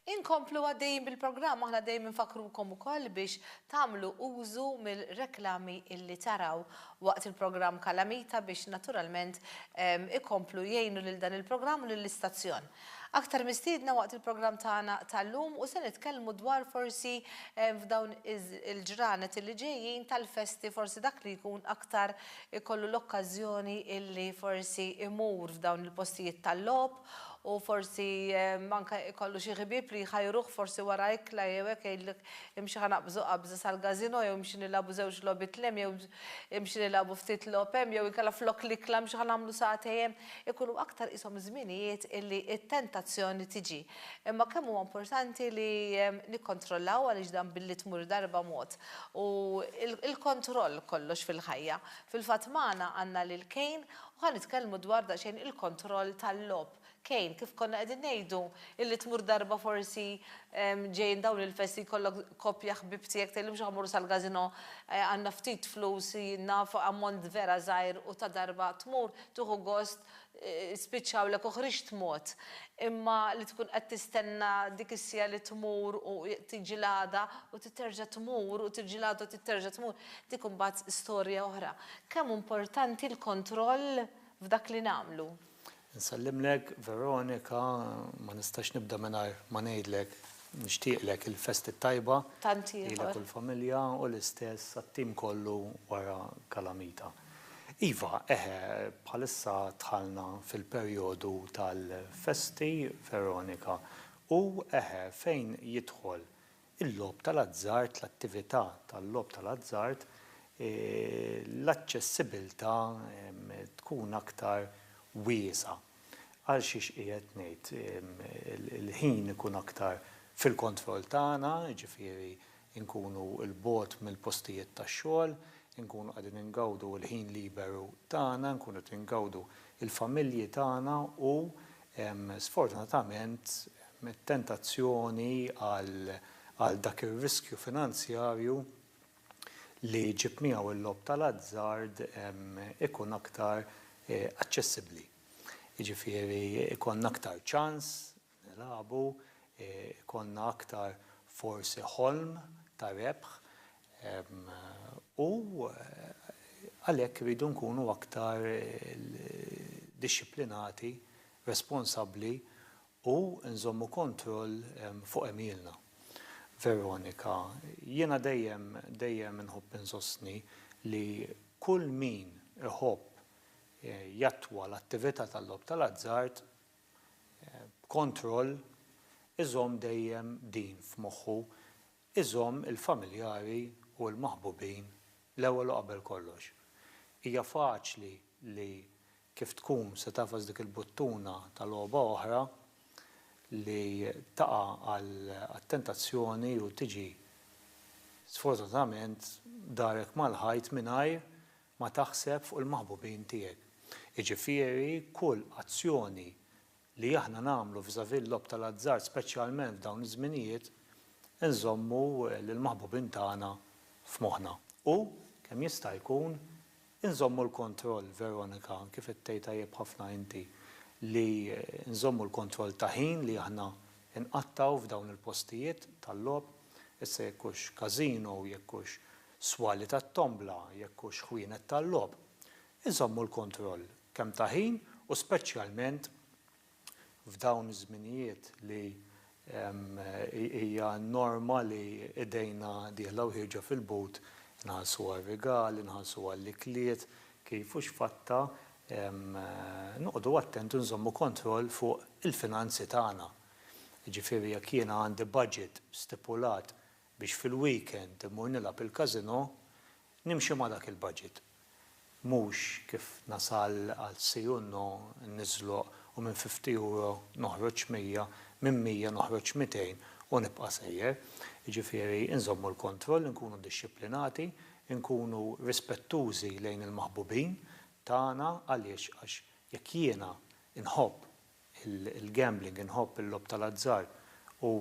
Inkomplu għaddejjin bil-programm aħna dejjem infakkrukom ukoll biex tagħmlu użu mill-reklami illi taraw waqt il-programm Kalamita biex naturalment ikomplu jgħinu lil dan il-programm u lill-istazzjon. Aktar mistiedna waqt il-programm tagħna tal-lum u se nitkellmu dwar forsi f'dawn il-ġranet illi ġejjin tal-festi forsi dak li jkun aktar ikollu l-okkażjoni illi forsi imur f'dawn il-postijiet tal-logħob u forsi anke ikollu xi ħbieb li jħajruh forsi wara ikla jew hekk jgħidlek imxi ħa naqbżu qabża sal-gazino jew imxi nilagħbu żewġ logħbiet 'l hemm jew imxi nilagħbu ftit logħob hemm jew inkella flok l-ikla imxi ħa nagħmlu sagħtejn hemm. Ikunu aktar qishom żminijiet illi t-tentazzjoni tiġi Imma kemm huwa importanti li nikkontrollaw għaliex dan billi tmur darba mod. U l-kontroll kollox fil-ħajja. Fil-fatt magħna għandna lil Cain u ħa nitkellmu dwar daqsxejn il-kontroll tal-logħob. Cain, kif konna qegħdin ngħidu, illi tmur darba forsi ġejjin dawn il-festi jkollok koppja ħbieb tiegħek tgħidilhom x'ħa mmorru sal-gazino għandna ftit flus naf ammont vera żgħir u ta' darba tmur tieħu gost spiċċa hawnlek u ħriġt tmut, imma li tkun qed tistenna dik is-siegħa li tmur u tiġi l-għada u titterġa' tmur u tiġi l-għada u titterġa' tmur, dik imbagħad storja oħra. Kemm hu importanti l-kontroll f'dak li nagħmlu? Nsellimlek Veronika, ma nistax nibda mingħajr ma ngħidlek nixtieqlek il-festi t-tajba lilek u l-familja u l-istess għat-tim kollu wara Kalamita. Iva, eħe, bħalissa dħalna fil-perjodu tal-festi, Veronika, u, eħe, fejn jidħol il-logħob tal-azzard, l-attività tal-logħob tal-azzard, l-aċċessibbiltà tkun aktar wiesgħa. Għal xiex qiegħed ngħid, il-ħin ikun aktar fil-kontroll tagħna, jiġifieri inkunu 'l bogħod mill-postijiet tax-xogħol, inkunu qegħdin ingawdu l-ħin liberu tagħna, inkunu qed ingawdu l-familji tagħna u sfortunatament it-tentazzjoni għal dak ir-riskju finanzjarju li jġib miegħu l-logħob tal-azzard ikun aktar aċċessibbli. Jiġifieri jkollna aktar ċans nilagħbu, ikollna aktar forsi ħolm ta' rebħ u għalhekk irridu nkunu aktar dixxiplinati, responsabbli u nżommu kontroll fuq għemilna. Veronika, Jiena dejjem, dejjem inħobb insostni li kull min iħobb jattwa l-attività tal-logħob tal-azzard, b'kontroll, iżomm dejjem din f'moħħu, iżomm il-familjari u l-maħbubin l-ewwel u qabel kollox. Hija faċli li kif tkun se tagħfas dik il-buttuna ta' logħba oħra li taqa' għat-tentazzjoni u tiġi sfortunatament darek mal-ħajt mingħajr ma taħseb fuq il-maħbubin tiegħek. Jiġifieri kull azzjoni li aħna nagħmlu vis-à-vis l-logħob tal-azzard speċjalment f'dawn iż-żminijiet inżommu lill-maħbubin tagħna f'moħħna. U, kemm jista' jkun, inżommu l-kontroll, Veronika, kif qed tgħid tajjeb ħafna inti, li nżommu l-kontroll ta' ħin li aħna nqattgħu f'dawn il-postijiet tal-logħob, issa jekk hux casino, jekk hux swali tat-tombla jekk hux ħwienet tal-logħob, iżommu l-kontroll kemm ta' ħin u speċjalment f'dawn iż-żminijiet li hija n-norma li idejna dieħla u ħierġa fil-but, inħallsu għar-rigal, inħallsu għall-ikliet, kif u x'fatta, noqogħdu attenti u nżommu kontroll fuq il-finanzi tagħna. Jiġifieri jekk jiena għandi budget stipulat biex fil-weekend immur nilgħab il-casino, nimxi ma' dak il-budget. Mhux kif nasal għal si u no, niżloq u minn fifty euro noħroġ mija, minn mija noħroġ mitejn u nibqa' sejjer. Jiġifieri nżommu l-kontroll, inkunu dixxiplinati, inkunu rispettużi lejn il-maħbubin tagħna għaliex għax jekk jiena nħobb il-gambling, inħobb il-logħob tal-azzard u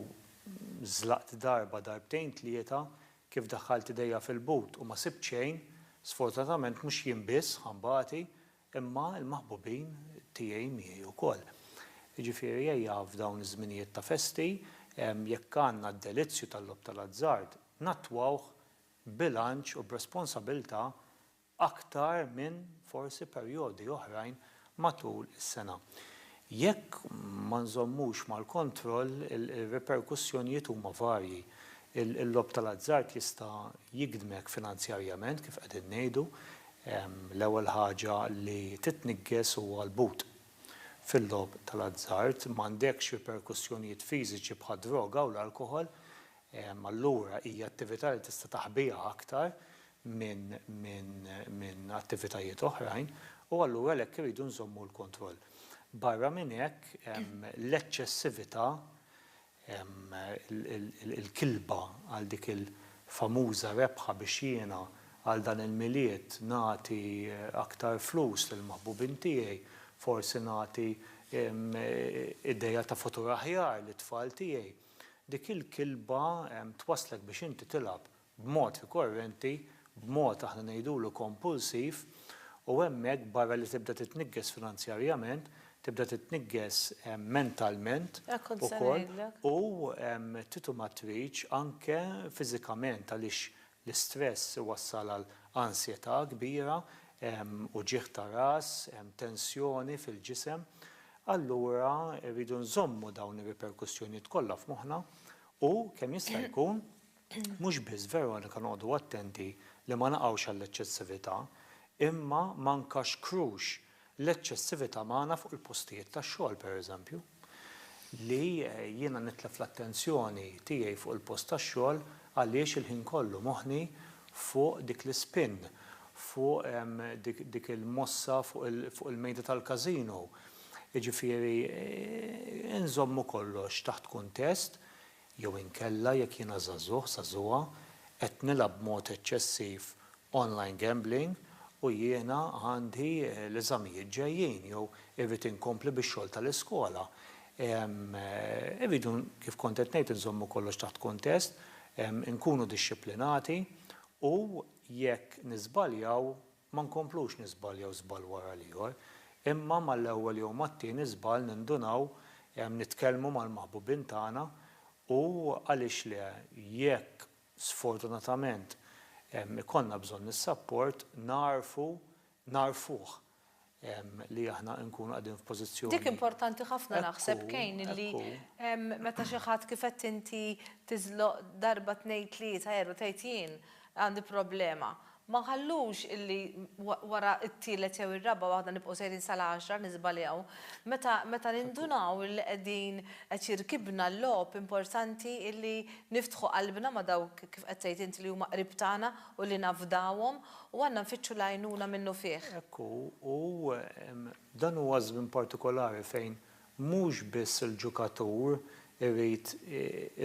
żlaqt darba, darbtejn, tlieta, kif daħħalt idejja fil-but u ma sibt xejn, sfortunatament mhux jien biss ħa nbati imma l-maħbubin tiegħi miegħi wkoll. Jiġifieri ejja f'dawn iż-żminijiet ta' festi, jekk għandna d-delizzju tal-logħob tal-azzard, nattwawh b'bilanċ u b'responsabilità aktar minn forsi perjodi oħrajn matul is-sena. Jekk ma nżommux mal-kontroll, ir-riperkussjonijiet huma varji. Il-logħob tal-azzard jista' jigdmek finanzjarjament, kif qegħdin ngħidu. L-ewwel ħaġa li titniggeż huwa l-but. Fil-logħob tal-azzard, m'għandekx riperkussjonijiet fiżiċi bħad-droga u l-alkoħol, Allura hija attività li tista' taħbiha aktar minn attivitajiet oħrajn u allura għalhekk irridu nżommu l-kontroll. Barra minn hekk, l-eċċessività, il-kilba għal dik il-famuża rebħa biex jiena għal dan il-Milied nagħti aktar flus lill-maħbubin tiegħi, forsi nagħti idea ta' futur aħjar lit-tfal tiegħi. Dik il-kilba twasslek biex inti tilgħab b'mod rikorrenti, b'mod aħna ngħidulu kompulsiv, u hemmhekk barra li tibda titniggeż finanzjarjament, tibda titniggeż mentalment ukoll u titumatriċ anke fiżikament għaliex L-istress iwassal għal ansjetà kbira, uġigħ ta' ras, tensjoni fil-ġisem. Allura rridu nżommu dawn ir-riperkussjonijiet kollha f'moħħna u, kemm jista' jkun, mhux biss Veronika noqogħdu attenti li ma naqgħux għall-eċċessività, imma ma nkaxkrux L-eċċessività magħna fuq il-postijiet tax-xogħol, pereżempju, li jiena nitlef l-attenzjoni tiegħi fuq il-post tax-xogħol għaliex il-ħin kollu moħħni fuq dik l-ispin, fuq dik il-mossa fuq il-mejda tal-każino. Jiġifieri, inżommu kollox taħt kuntest, jew inkella jekk jiena żagħżugħ, żagħżugħa, qed nilgħab b'mod eċċessiv online gambling u jiena għandi l-eżamijiet ġejjin jew irrid inkompli bix-xogħol tal-iskola. Irridu, kif kont qed ngħid, inżommu kollox taħt kuntest, inkunu dixxiplinati u jekk niżbaljaw, Ma nkomplux niżbaljaw żball wara l-ieħor, imma mal-ewwel jew mat-tieni żball nindunaw, nitkellmu mal-maħbubin tagħna u għaliex le, jekk sfortunatament ikollna bżonn is-sapport, nagħrfu nagħrfuh li aħna nkunu qegħdin f'pożizzjoni. Dik importanti ħafna naħseb kejn illi meta xi ħadd kif qed inti tiżloq darba tnejn tlieta erba' tgħid jien għandi problema. Ma ħallux illi wara t-tielet jew ir-raba' waħda nibqgħu sejrin sal-għaxra niżbaljaw. Meta nindunaw illi qegħdin qed jirkibna l-logħob importanti illi niftħu qalbna ma' dawk kif qed tgħid int li huma qrib tagħna u li nafdawhom U għandna nfittxu l-għajnuna minnufih. Hekk hu, u dan huwa żmien partikolari fejn mhux biss il-ġukatur irid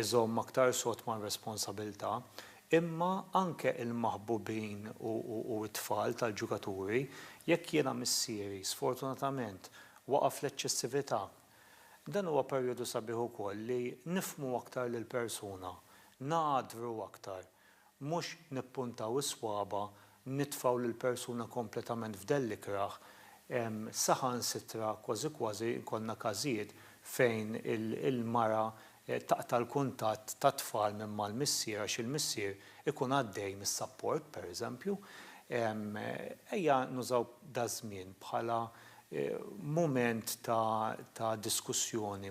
iżomm aktar sod mar-responsabilità, imma anke l-maħbubin u t-tfal tal-ġukaturi, jekk jiena missieri sfortunatament waqa' fl-eċċessività. Dan huwa perjodu sabiħ ukoll li nifhmu aktar lill-persuna, ngħaddru aktar Mhux nippuntaw is-swaba', nitfgħu lill-persuna kompletament f'dell l-ikrah. Saħansitra kważi kważi jkollna każijiet fejn il-mara taqta' l-kuntatt tat-tfal minn mal-missier għax il-missier ikun għaddej mis-sapport, pereżempju. Ejja nużaw daż-żmien bħala mument ta' diskussjoni,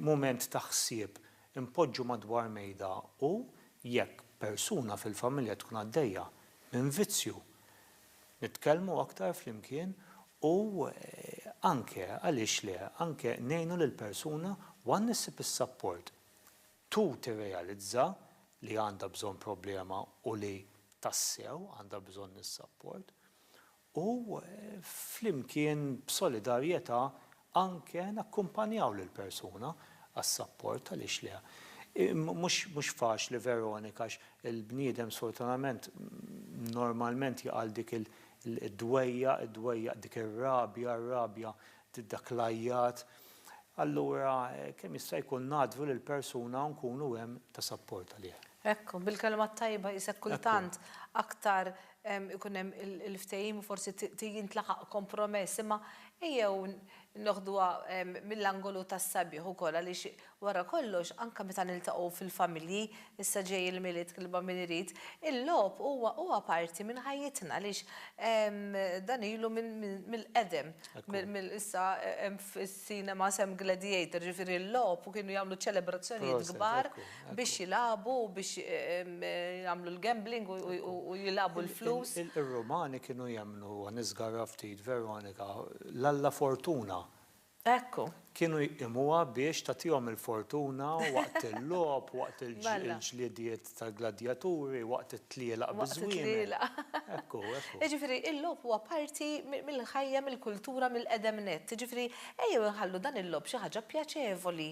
mument ta' ħsieb. Inpoġġu madwar mejda u, jekk persuna fil-familja tkun għaddejja minn vizzju, nitkellmu aktar flimkien u anke, għaliex le, anke ngħinu lill-persuna 'one' issib is-sapport, two tirrealizza li għandha bżonn problema u li tassew għandha bżonn is-sapport u flimkien b'solidarjetà anke nakkumpanjaw lill-persuna għas-sapport, għaliex le. Mhux faċli Veronika għax il-bniedem sfortunatament normalment jaqa' għal dik id-dwejjaq, id-dwejjaq, dik ir-rabja, r-rabja, dak l-għajjat. Allura kemm jista' jkun ngħaddlu lill-persuna u nkunu hemm ta' sapport għalih. Hekk, bil-kelma t-tajba qisek kultant aktar ikun hemm il-ftehim u forsi jintlaħaq kompromess, imma ejjew noħduha mill-angolu tas-sabiħ ukoll għaliex wara kollox anke meta niltaqgħu fil-familji, issa ġej il-Milied Kilba Min Irid, il-logħob huwa huwa parti minn ħajjitna għaliex dan ilu mill-qedem, mill-issa Cinema Sam Gladiator, ġifieri l-logħob u kienu jagħmlu ċelebrazzjonijiet kbar biex jilagħbu, biex jagħmlu l-gambling u jilagħbu l-flus. Ir-Rumani kienu jemmnu, u niżgarra ftit, Veronika, l-alla Fortuna. Ekku. Kienu jqimuha biex tagħtihom il-fortuna waqt il-logħob, waqt il-ġlidiet tal-gladjaturi waqt it-tlielaq biż-żwiemel. Ekku, ekku. Jiġifieri l-logħob huwa parti mill-ħajja, mill-kultura, mill-qedem nett. Jiġifieri ejjew inħallu dan il-logħob xi ħaġa pjaċevoli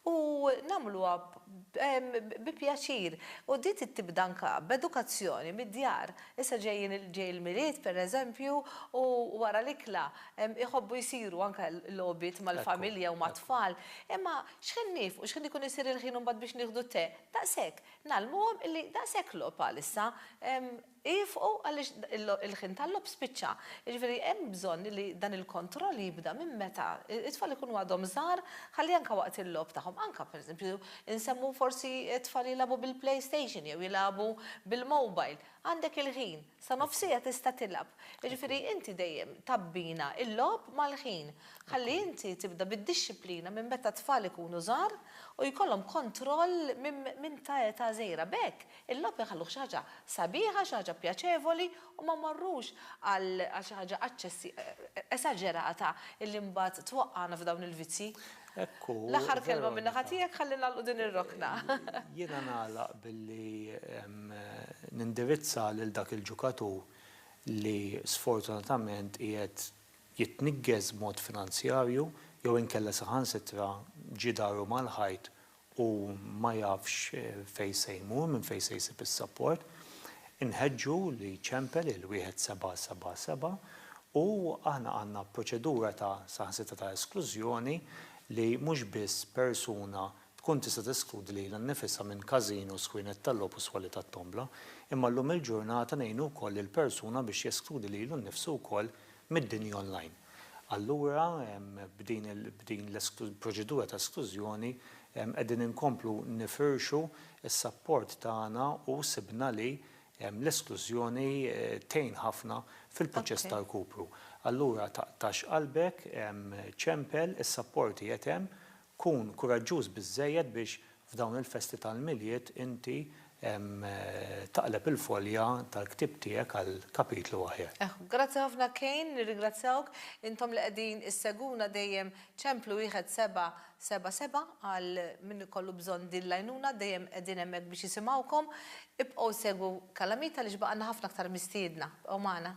u nagħmluha bi pjaċir. U din trid tibda anke b'edukazzjoni mid-djar. Issa ġejjin ġej il-Milied, pereżempju, u wara l-ikla jħobbu jsiru anke logħobiet mal-familja u mat-tfal. Imma x'ħin niefqu, x'ħin ikun isir il-ħin imbagħad biex nieħdu t-te? Daqshekk, ngħallmuhom illi daqshekk logħob għalissa, iefqu għaliex il-ħin tal-logħob spiċċa. Jiġifieri hemm bżonn illi dan il-kontroll jibda minn meta t-tfal ikunu għadhom żgħar ħalli anke waqt il-logħob tagħhom, anke pereżempju nsemmu forsi t-tfal jilagħbu bil-playstation jew jilagħbu bil-mobile, għandek il-ħin. Sa nofsija tista' tilgħab. Jiġifieri inti dejjem tabbina l-logħob mal-ħin. Ħalli inti tibda bid-dixxiplina minn meta t-tfal ikunu żgħar u jkollhom kontroll minn ta' età żgħira. B'hekk, il-logħob inħalluh xi ħaġa sabiħa, xi ħaġa pjaċevoli u ma mmorrux għal xi ħaġa esaġerata li mbagħad twaqqagħna f'dawn il-vizzji. Hekk hu. L-aħħar kelma min-naħa tiegħek ħalli nagħlqu din ir-rokna. Jiena nagħlaq billi nindirizza lil dak il-ġukatur li sfortunatament qiegħed jitniggez b'mod finanzjarju jew inkella saħansitra ġie daru mal-ħajt u ma jafx fejn se jmur, minn fejn se jsib is-sapport, inħeġġu li jċempel il-1777 u aħna għandna proċedura ta' saħansitra ta' esklużjoni li mhux biss persuna tkun tista' teskludi lilha nnifisha minn każino, sħuinet tal-logħob u swali tat-tombla, imma llum il-ġurnata ngħinu wkoll lill-persuna biex jeskludi lilu nnifsu wkoll mid-dinja online. Allura, b'din l-proċedura ta' esklużjoni qegħdin inkomplu nifirxu s-sapport tagħna u sibna li l-esklużjoni tgħin ħafna fil-proċess ta' rkupru. Allura taqtax qalbek, ċempel, is-sapport qiegħed hemm Kun kuraġġuż biżżejjed biex f'dawn il-festi tal-Milied inti taqleb il-folja tal-ktieb tiegħek għal kapitlu aħjar. Grazzi ħafna Kane, nirringrazzjawk. Intom li qegħdin issegwuna dejjem ċemplu wieħed seba' seba' seba' għal min ikollu bżonn din l-għajnuna, dejjem qegħdin hemmhekk biex jisimgħukom. Ibqgħu ssegwu Kalamita għaliex baqgħalna ħafna aktar mistiedna. Bqgħu magħna.